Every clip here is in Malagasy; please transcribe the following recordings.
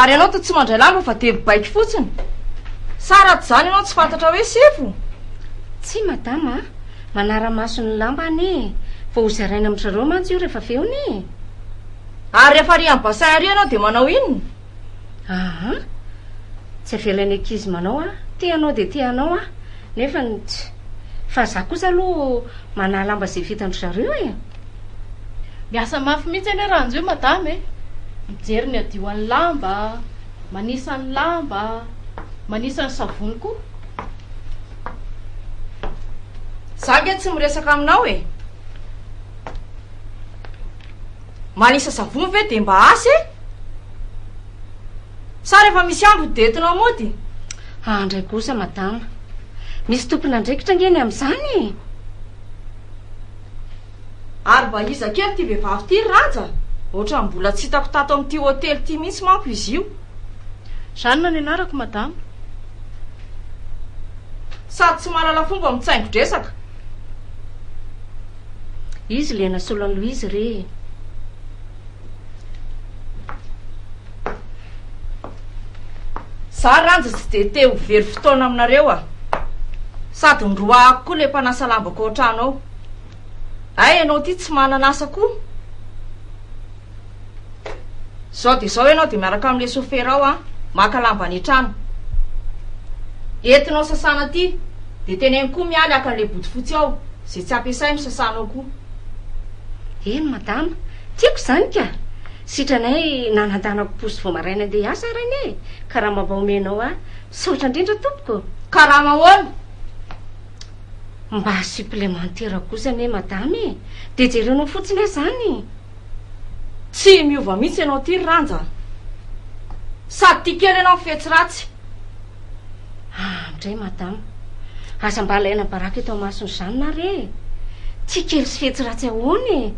Ary ianao to tsy mandray lamba fa dia mibaiko fotsiny. Sa raha tsy izany ianao tsy fantatra hoe sefo? Tsia madama a! Manara-maso ny lamba anie e! Vao ho zaraina amin-dry zareo mantsy io rehefa avy eo anie e! Ary rehefa ary amin'ny bassin ary ianao dia manao inona? Aa! Tsy avelan'ny ankizy manao an! Te hanao dia te hanao an! Nefa ny tsy. Fa za kosa aloha manahy lamba izay vitan-dry zareo e! Miasa mafy mihitsy anie raha anjio madama e! Mijery ny adiohan'ny lamba, manisa ny lamba, manisa ny savony koa. Za ange tsy miresaka aminao e! manisa savony ve de mba asa e? Sa rehefa misy ambiny de entinao mody? Ah ndray kosa madama, misy tompon'andraikitra ange ny amin'izany e! Ary mba iza kely ity vehivavy ity ry Ràja? Ohatran'ny mbola tsy hitako tato amin'ity hotely ity mihitsy manko izy io. Jeanne ny anarako madama. Sady tsy mahalala fomba mitsaingo-dresaka. Izy le nasolo an'i Louise re e. Za Ranja tsy dia te ho very fotoana aminareo a! Sady noroahako koa le mpanasa lambako ao an-trano ao. Hay ianao ity tsy manana asa koa? Zao dia zao ianao dia miaraka amin'ilay soferao an, maka lamba any an-trano. Entinao sasana aty, dia teneno koa Mialy haka an'ilay bodofotsy ao, izay tsy ampiasainy sasanao koa. Eny madama, tiako izany ka! Sitranay nanandanako posy vao maraina handeha hiasa ary anie e! Karama mba omenao ahy. Misaotra indrindra tompoko. Karama ahoana? Mba supplémentaire kosa anie madama e! Dia jerenao fotsiny aho izany. Tsy miova mihitsy ianao ity ry Ranja a! Sady tia kely ianao ny fetsy ratsy. Ah, midray Madama, aza mba alaina baraka eto amason'i Jeanne ary e! Tia kely sy fetsy ratsy ahoana e!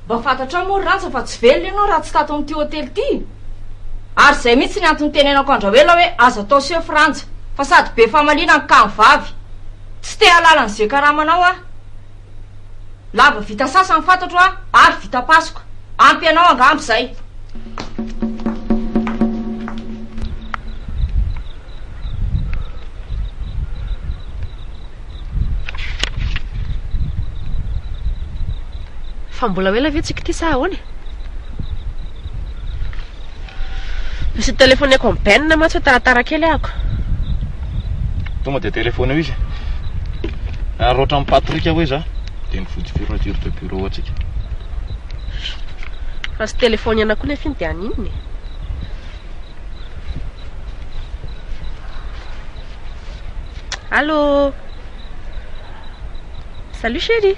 Mba fantatrao moa ry Ranja fa tsy velona ianao raha tsy tato amin'ity hotely ity? Ary izay mihitsy ny antony nitenenako an-dRaoela hoe aza atao sefo Ranja fa sady be famaliana ny kamo vavy. Tsy te-hahalala an'izay karamanao aho. Lava vita sasa ny fantatro a ary vita pasoka. Ampy anao angamba izay. Fa mbola ho ela ve tsika ity sa ahoana e? Misy nitelefoneko an'i Ben mantsy hoe taratara kely ahako. Tonga dia telefoneo izy. Ary ohatran'i Patrick hoe za dia mivotsy fermeture de bureau antsika. Fa tsy telefoniana koa nefa iny dia any inona e? Allô Salut chérie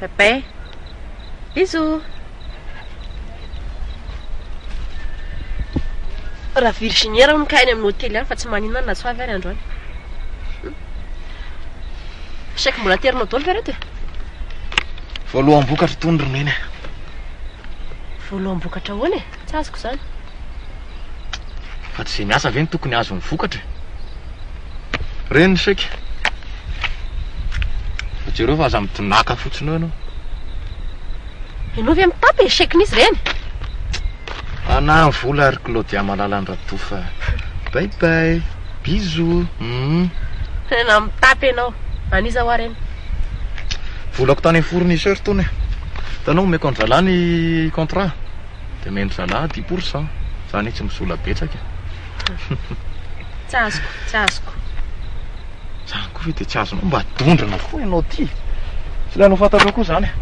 Bye bye. Bisous. Raha virginière hono ka any amin'ny hotely any fa tsy maninona na tsy ho avy ary androany. Chèque mbola aterina daholo ve reto e? Voaloham-bokatra tony ry Neny e. Voaloham-bokatra ahoana e? Tsy azoko izany. Fa tsy izay miasa ve no tokony hahazo ny vokatra e? Reny ny chèque. Fa jereo fa aza mitonàka fotsiny eo ianao. Ianao ve mitapy ny chèque n'izy ireny? Anahy ny vola ry Claudia malalan'i Radofa. Bye bye. Bisous. Hum. Tena mitapy ianao. An'iza hoa ireny? Volako tany amin'ny fournisseur tony e. Hitanao omeko an'i zalahy ny contrat. Dia omeny zalahy dix pour cent. Za anie tsy misola betsaka e. Tsy azoko, tsy azoko. Zany koa ve dia tsy azonao? Mba dondrona koa ianao ty. Tsy ilaina ho fantatrao koa zany e.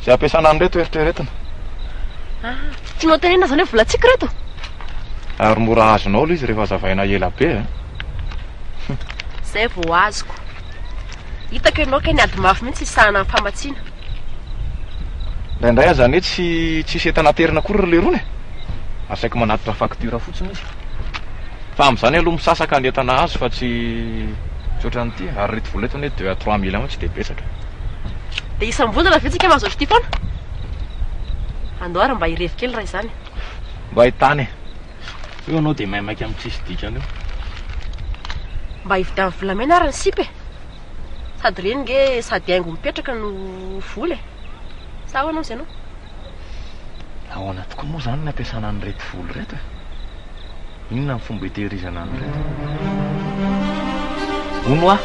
Izay ampiasana an'ireto eritreretina. Ah, tsy notenenina zany hoe volantsika ireto? Ary mora azonao ilay izy rehefa azavaina ela be e. Zay vao azoko. Hitako ianao kay niady mafy mihitsy hisahana ny famatsiana. Indraindray aza anie tsy tsisy entana aterina akory ry leirona e! Asaiko manatitra facture fotsiny izy. Fa amin'izany aloha misasaka ny entana azo fa tsy tsy ohatran'ity e! Ary ireto vola ireto anie deux à trois mille tsy dia betsaka e! Dia isam-bolana ve tsika mahazo ohatr'ity foana? Andao ary mba hirevy kely raha izany e! Mba hitahy anie! Eo anao dia maimaika amin'ny tsisy dikany eo. Mba hividian'ny volamena ary ny sipa e. Sady ireny nge sady haingo mipetraka no vola e. Sa ahoana hozy ianao? Ahoana tokoa moa izany ny ampiasana an'ireto vola ireto e? Inona ny fomba hitehirizana an'ireto? Hono hoa!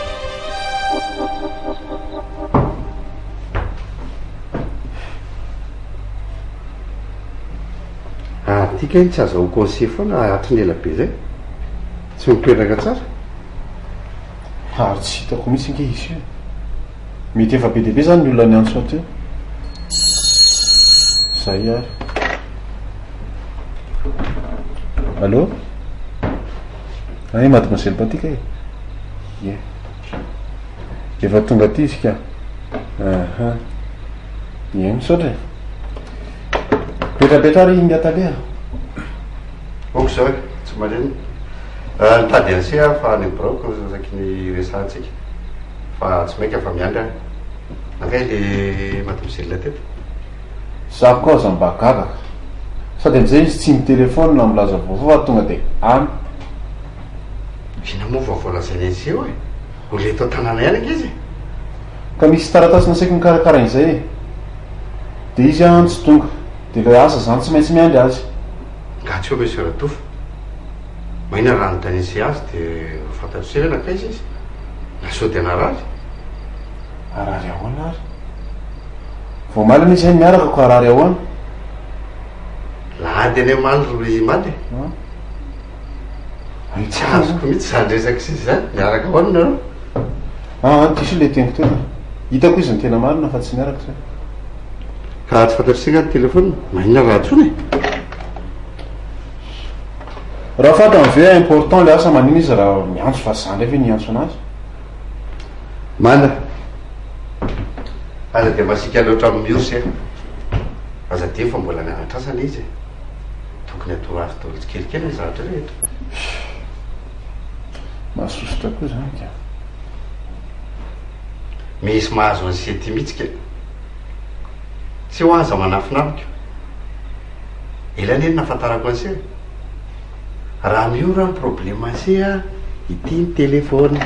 Ary ity kay tsy aza ho conseiller foana a hatry ny ela be zay. Tsy mipetraka tsara. Ary tsy hitako mihitsy ange izy io. Mety efa be dia be zany ny olona niantso aty eo. Zay ary. Allô? Ay mademoiselle Patika e. Ie. Efa tonga aty izy ka. Ahah. Ie misaotra e. Mipetrapetra ary Inga tale a! Ok zao e, tsy maninona. Ah, nitady an'se aho fa any biraoko no saky niresahantsika. Fa tsy maika fa miandry aho. Nankay le mademoiselle teto? Za koa aza mba gaga ka. Sady amzay izy tsy mitelefona na milaza vaovao fa tonga de any. Inona moa vaovao lazainy an'se oe? Mbola eto an-tanàna ihany ange izy e! Ka misy taratasy nasaiko nikarakaraina izay e! Dia izy an tsy tonga, dia ilay asa izany tsy maintsy miandry azy. Nga tsy eo ve Soeur Adofo? Mahina raha nodaniany sy azy dia ho fantatro se hoe nankaiza izy? Na sao dia narary? Harary ahoana ary? Vao omaly anie izahay niaraka koa harary ahoana? Lahady anie omaly ry Mady e! Ary tsy azoko mihitsy izany resaka sisa izany, miaraka ahoana nareo? Ah, diso ilay teniko teo e. Hitako izy no tena marina fa tsy miaraka izay. Ka raha tsy fantatr'ise nga ny telefaonina, maninona raha antsoina e? Raha fantany ve important ilay asa maninona izy raha miantso fa za indray ve no hiantso anazy? Mana, aza dia masiaka loatra amin'ny miorsa e. Aza adino fa mbola mianatra asa ilay izy e. Tokony atao ravy daholo tsikelikely ny zavatra rehetra. Mahasosotra koa zany ka. Misy mahazo an'i Sety mihitsy ka. Tsy ho aza manafina amiko. Ela anie no nahafantarako an'i Sety. Raha miora ny problème an'i Sety, ity ny téléphone.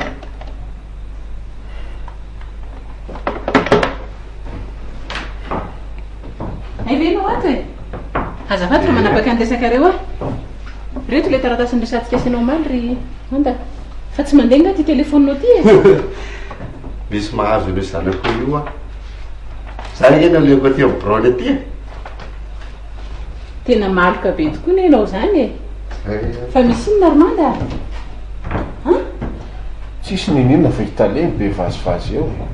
Hay ve ianao ato e? Azafady fa manapaka ny resakareo aho. Reto ilay taratasin'ny resantsika asianao omaly ry Honda. Fa tsy mandeha nga ity telefonina ity e. Misy mahazo an'io zanako io aho. Za anie nalehako aty amin'ny biraony aty e. Tena maloka be tokoa ne ianao izany e. Eh. Fa misy inona ry Manda? Tsisy ninoninona fa i Tale no be vazivazy eo e!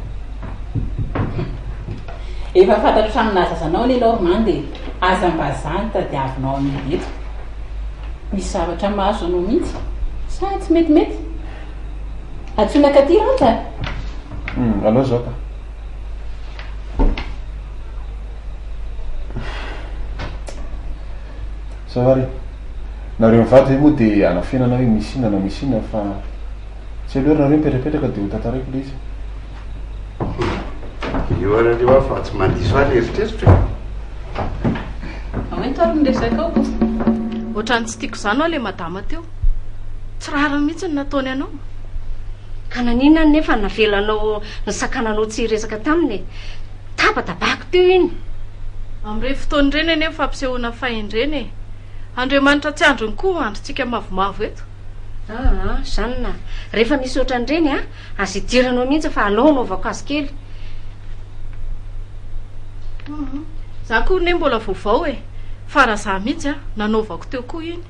Efa fantatro hatramin'ny naha zaza anao anie Normand e! Aza mba za no tadiavinao amidy eto! Misy zavatra mahazo anao mihitsy sa tsy metimety? Antsoina katy Randja a! Hum, alao izao ka! Zao ary, nareo mivady ve moa dia anafenana hoe misy inona na misy inona fa tsy aleo ary nareo mipetrapetraka dia ho tantaraiko ilay izy. Eo ary aleo aho fa tsy mandiso ahy ny eritreritro e! Fa hoento ary ny resakao Boss. Ohatran'ny tsy tiako izany ho'a ilay madama teo. Tsy rariny mihitsy ny nataony anao. Ka naninona anefa navelanao nisakananao tsy hiresaka taminy e? Tabatabako teo iny. Amin'ireny fotoana ireny anie ny fampisehoana fahendrena e! Andriamanitra tsy andriny koa andrintsika mavomavo eto. Aa, Jeanne a! Rehefa misy ohatran'ireny a! Aza idiranao mihitsy fa aleo anaovao kasikely. Hum, izaho koa anie mbola vaovao e! Fa raha izaho mihitsy a! nanaovako teo koa iny.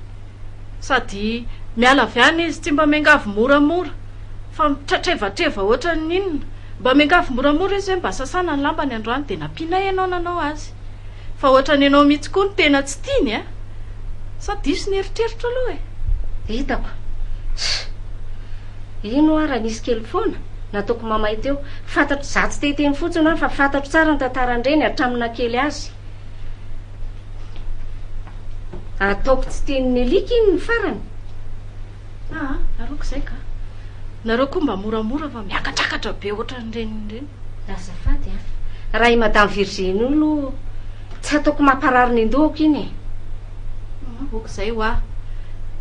sady miala avy any izy, tsy mba miangavy moramora fa mitratrevatreva ohatran'ny inona, mba miangavy moramora izy hoe mba sasana ny lambany androany dia nampianay ianao nanao azy, fa ohatran'ny ianao mihitsy koa no tena tsy tiany a! sa diso ny eritreritro aloha e? Hitako. Tssy! Ino hoa raha nisy kely foana? Nataoko mamay teo. Fantatro, izaho tsy te hiteny fotsiny hoa fa fantatro tsara ny tantaran'ireny hatramin'ny naha kely azy. Ataoko tsy tian'ny alika iny ny farany. Aa, aroako izay ka. Nareo koa mba moramora fa miakatrakatra be ohatran'ireny ireny. Azafady an. Raha i Madame Virginie io aloha tsy ataoko mamparary ny an-dohako iny e. Aa, ok izay hoa.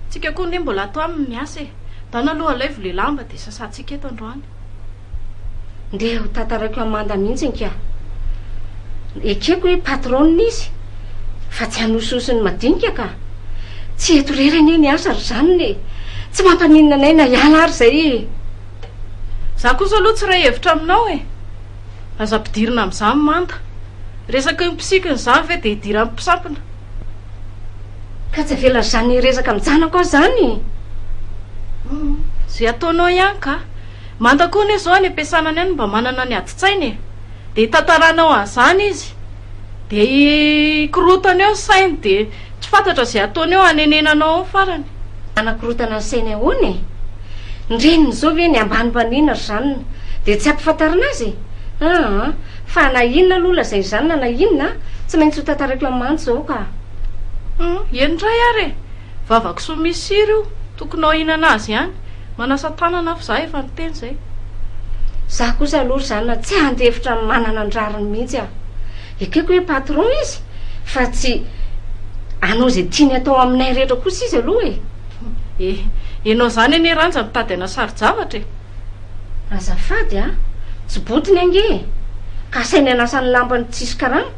Tsika koa anie mbola ato aminy miasa e. Ndana aloha alaivo le lamba dia sasantsika eto androany. Ndeha ho tantaraiko an'i Manda mihitsy nkia. Ekeko hoe patronina izy fa tsy hanosihosy ny madinika ka. Tsy eto irery anie ny asa ry zanona e. Tsy mampaninona anay na hiala ary izay e. Izaho kosa aloha tsy iray hevitra aminao e. Aza ampidirina amin'izany Manda. Resaka eo mpisikina izany ve dia idiran'ny mpisampina. Ka tsy avela ry zanona hiresaka amin'ny janako aho izany e. Izay ataonao ihany ka. Manta koa anie zao any ampiasana any any mba manana ny adin-tsaina e! dia itantaranao an'izany izy dia ikorotana eo ny sainy dia tsy fantatra izay ataony eo hanenenanao eo ny farany. Hanakorotana ny sainy ahoana e? Ny reniny zao ve ny ambanimbaniana ry zanany dia tsy ampifantarina azy e? aa! fa na inona aloha lazain'ny zanany na inona a! tsy maintsy ho tantaraiko amin'ny mantsy zao ka! Hum! eny indray ary e! Vava kisoa misy sira io, tokony ho hihinana azy ihany. Manasa tanana aho fa za efa niteny zay. Za kosa aloha ry zanona tsy handefitra ny manana ny rariny mihitsy aho. Ekeko hoe patron izy fa tsy hanao izay tiany atao aminay rehetra kosa izy aloha e. E, enao zany anie Ranja mitady ana sari-javatra e. Azafady a, tsy botiny ange e. Kasainy hanasa ny lampany tsisy karama.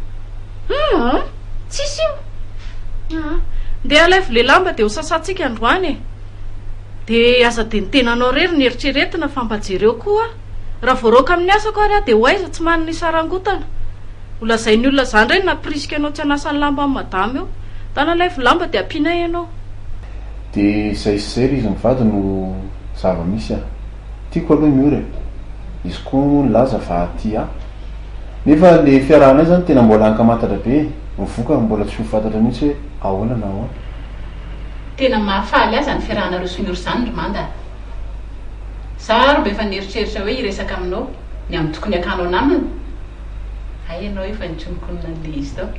Hum. Tsisy io aa. Ndeha alaivo le lamba de ho sasantsika androany e. De aza de ny tenanao rery no eritreretina fa mba jereo koa raha voaraoka amin'ny asako ary aho de ho aiza tsy manana isarangotana. Ho lazain'ny olona za ndray no nampirisika anao tsy hanasa ny lamba amin'ny madama eo. Ndana alaivo lamba de ampianay ianao. De izay sy izay le izy mivady no zava-misy a. Tiako aloha ny ora e. Izy koa moa nilaza fa tia ahy. Nefa le fiarahanay zany tena mbola hankamantatra be e. Ny vokany mbola tsy ho fantatra mihitsy hoe ahoana na ahoana. Tena maha faly ahy zany fiarahanareo sy ny ora zany ry Manda a. Za ary mba efa nieritreritra hoe hiresaka aminao ny amin'ny tokony hakanao namana. Hay ianao io fa nikonokonona an'le izy tao.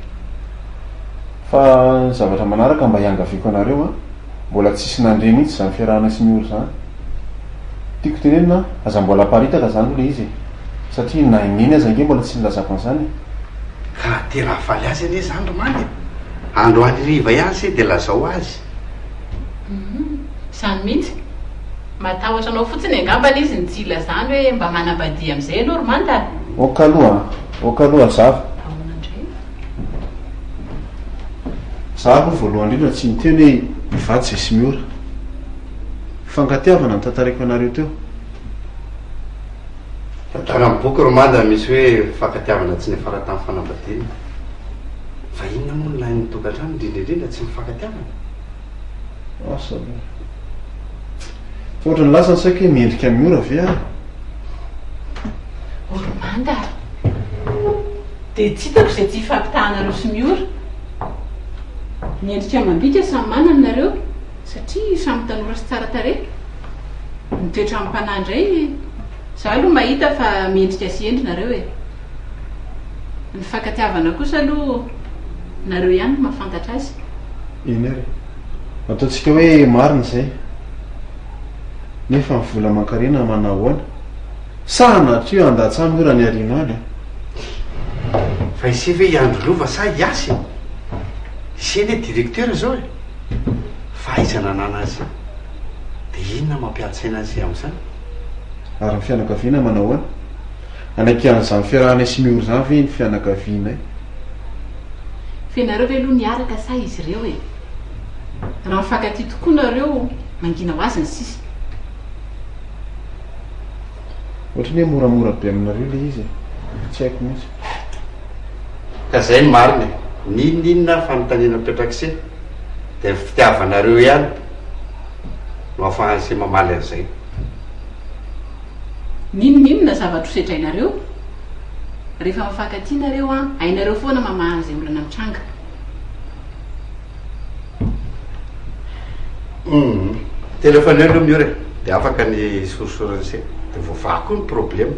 Fa ny zavatra manaraka mba hiangaviako anareo a. Mbola tsisy nandre mihitsy izany fiarahana sy miora izany. Tiako tenenina an, aza mbola aparitaka izany aloha ilay izy e. Satria na i Neny aza ange mbola tsy nilazako an'izany e. Ka tena hahafaly azy anie izany ry Manda e. Androany hariva ihany se dia lazao azy. Humm, izany mihitsy. Matahotra anao fotsiny angambany izy ny tsy hilazany hoe mba manambadihy amin'izay ianao ry Manda a. Ok aloha a, ok aloha zara. Ahoana indray? Za aloha voalohany indrindra tsy niteny hoe mivady zay sy miora. Fangatiavana notantariko anareo teo. Tantara amin'ny boky ry Mada misy hoe fankatiavana tsy niafara tamin'ny fanambadiana. Fa inona moa ny lain'ny tokantrano indrindra indrindra tsy mifankatiavana? Asa aloha. Fa ohatran'ny lasa ny saiko hoe mendrika amin'ny ora ve aho? Oromanda a! Dia tsy hitako izay tsy hifampitahanareo sy Miora. Miendrika amam-bika samy manana nareo satria samy tanora sy tsara tarehy. Ny toetran'ny mpanahy indray, izaho aloha mahita fa mendrika sy hendry nareo e! Mifankatiavana kosa aloha nareo ihany no mahafantatra azy. Eny ary. Ataontsika hoe marina izay. Nefa ny vola aman-karena manao ahoana? Sa an'Atrio handatsa-ny ora ny hariana any an? Fa ise ve i Andry Lova sa i Yasy e? Ise anie directeur izao e! Fa aiza nanana azy? Dia inona mampiantsaina azy amin'izany? Ary ny fianakaviana manao ahoana? Hanaiky an'izany fiarahanay sy Miora izany ve ny fianakavianay? Fa ianareo ve aloha niaraka sa izy ireo e? Raha mifankatia tokoa nareo, mangina ho azy ny sisa. Ohatrany hoe moramora be aminareo le izy e! Tsy haiko mihitsy. Ka zay ny marina e! N'inon'inona ary fanontaniana petrak'se dia ny fitiavanareo ihany no afahan'se mamaly an'izay. N'inon'inona zavatra ho sedrainareo, rehefa mifankatia nareo an, hainareo foana mamaha an'izay olana mitranga. Humm. Telefoneo aloha Miora e, dia afaka ny hisorisorana an'ise, dia voavaha koa ny problema.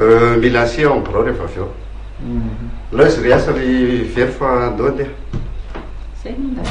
Euh, mila an'ise ao amin'ny birao rehefa avy eo. Alao izy ry asa ry very fa handoa andeha. Izay angamba.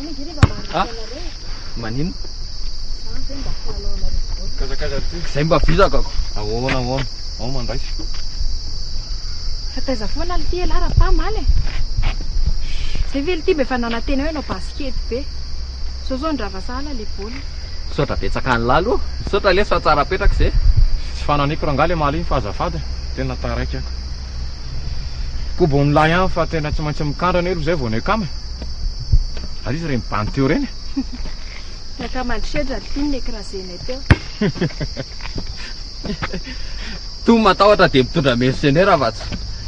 Ah, manino? Zay mba vizako ako. Ahoana ahoana? Ao mandraisa. Fataiza foana ity elah raha pa maly e. Zay ve ity be fa nanantena hoe nao basket be. Zao zao ndrava sahala le bol. Misaotra betsaka an'lah aloha. Misaotra lesy fa tsara apetraka izay. Tsy fananiko rangaha le maly iny fa azafady. Tena taraiky ako. Koba ony lahy an fa tena tsy maintsy mikandrana elo zay vao ny akama e. Ary izy reny bany teo reny e. Ny akama andry sedra ny tony nekirazenay teo. Tony matahotra dia mitondra mercenaire afa-tsy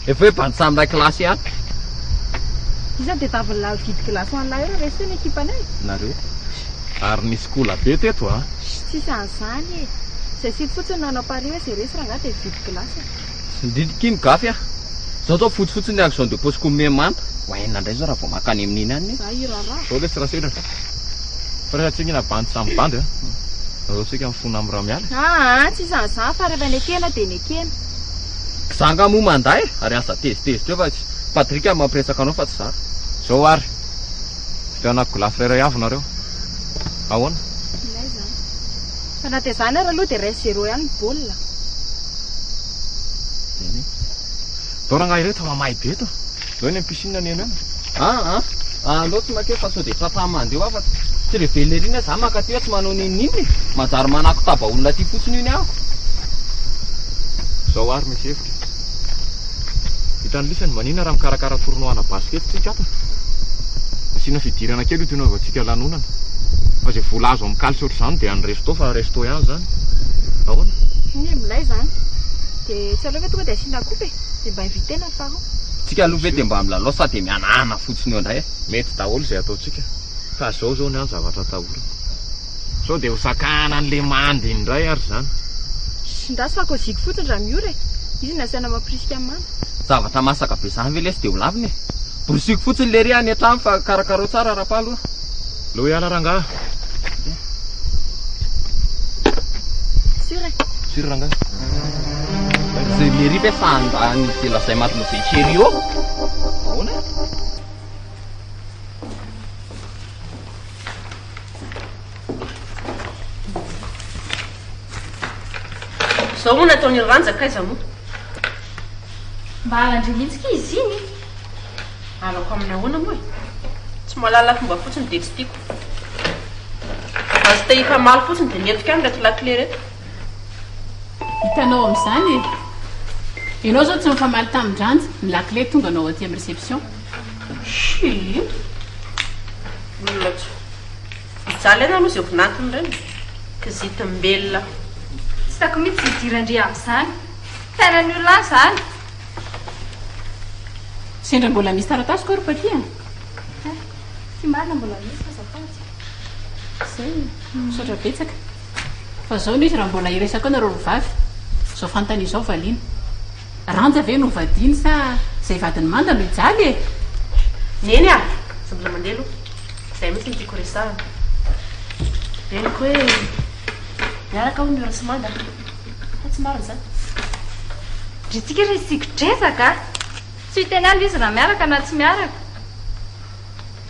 efa hoe bany samy iray kilasy ihany. Iza dia tavy nilalo vide glace ho an'lah eo resy teo ny ekipanay? Nareo. Ary nisy kola be teto an. Ssy tsisy an'izany e. Izay site fotsiny no nanao pari hoe zay resy rangahy dia vide glace. Ndryy Kim gafy ah. Zao zao fotsy fotsiny ny action de pose ko me manta. Ho enina ndray zao raha vao mankany amin'iny any e. Zah hiraraha. Zao lesy rasoir a. Fa rehefa tsingina bandy samy bandy a. Zao tsika mifona am ramiala e. Aa tsy isan'izany fa rehefa nekena dia nekena. Za nga moa manda e, ary aza tezitezitra eo fa tsy Patrick no mampiretsaka anao fa tsy za. Zao ary. Vidianako glace iray avy nareo. Ahoana? Ilay zany. Fa na dia zany ary aloha dia ray zero ihany ny baolina. Neny. Ndao rangahy ireto fa mamay be eto. Ndao eny amin'ny piscine neny any. Ah ah. Aleo tsy makeo fa sao dia tratran'ny mandeha ho afaka. Tsy ilay vellery iny aho zany mankaty hoe tsy manao n'inon'inona e. Manjary manakotaba olona aty fotsiny io ny ahako. Zao ary misy efa. Vitan'i Lisy ny manina raha mikarakara tournoi ana basket tsika ato. Asiana fidirana kely io toy ny hanaovantsika lanonana. Fa izay vola azo amin'ny kalitro ohatr'izany dia any resto fa resto ihany izany. Ahoana? Iny e, milay izany. Dia tsy aleo ve tonga dia asiana coupe e? Dia mba inviter-na ny parents. Tsika aloha ve dia mba milalao sa dia mihanahana fotsiny eo indray e? Mety daholo izay ataontsika. Fa izao izao ny ahy ny zavatra atahorana. Sao dia ho sakana an'ilay manda iny indray ary izany. Shh, ndra sao koziko fotsiny raha miora e! Izy no asaina mampirisika an'i manda. Zavatra masaka be izany ve lesy dia ho lavina e! Borosiko fotsiny lery any an-trano fa karakarao tsara Rapalo a! Aleo hiala rangahy. Sûr e! Sûr rangahy. Izay lery ve fa ndra ny izay lazay matinao izay chérie ô! Ahoana e? Zao moa nataony ry Ranja kaiza moa? Mba halan-dry mihitsy kay izy iny! Halako amin'ny ahoana moa e? Tsy mahalala fomba fotsiny dia tsy tiako. Basta hifamaly fotsiny dia mihetoka any ireto lakile ireto. Hitanao amin'izany e! Ianao izao tsy nifamaly tamin-dRanja, ny lakile tonga anao aty amin'ny reception. Schii. Olona tsy. Mijaly any aloha izay vinantiny ireny. Kizitim-belona. Tsy hitako mihitsy izay idiran-dry amin'izany. Fiainan'ny olona any izany. Sendra mbola misy taratasy koa ry Paky a! Hay, ty marina mbola misy aza azafady. Izay e. Misaotra betsaka. Fa izao no izy raha mbola hiresaka eo nareo roa vavy. Izao fanontaniana izao valiana. Ranja ve no vadiny sa zay vadiny manda no hijaly e! Neny a! Tsy mbola mandeha aloha. Zay mihitsy no tiako resahana. Henoko hoe miaraka hono Miora sy Manda fa tsy marina izany. Ry tsiky ry tsikodrezaka a! Tsy ho teny aloha izy raha miaraka na tsy miaraka.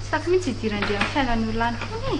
Tsy tiako mihitsy hidiran-dry amin'ny fiainan'ny olona any hono e!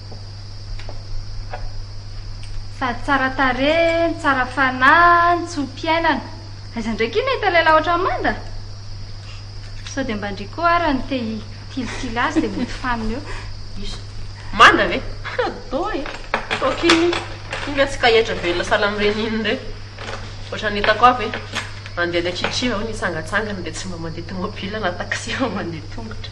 Sady tsara tarehy, ny tsara fanahy, ny tso-piainana. Aiza ndray k'y nahita lehilahy ohatran'i Manda? Sao dia mba ndry koa ara ny te hitilitily azy dia mody faminy eo. Iza? Manda ve? Toa e! Toa k'iny iny ve tsy kahetra be ilay salamreny iny indray? Ohatran'ny hitako aho ve? Mandehandeha tchitchi vao ny tsangatsangany dia tsy mba mandeha tomobila na taxi fa mandeha tongotra.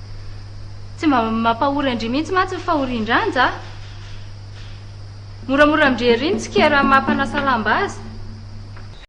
Tsy mba mampahory an-dry mihitsy mantsy ny fahorian-dranja a! Moramora amin-dry ery ny tsikera maha-mpanasa lamba azy.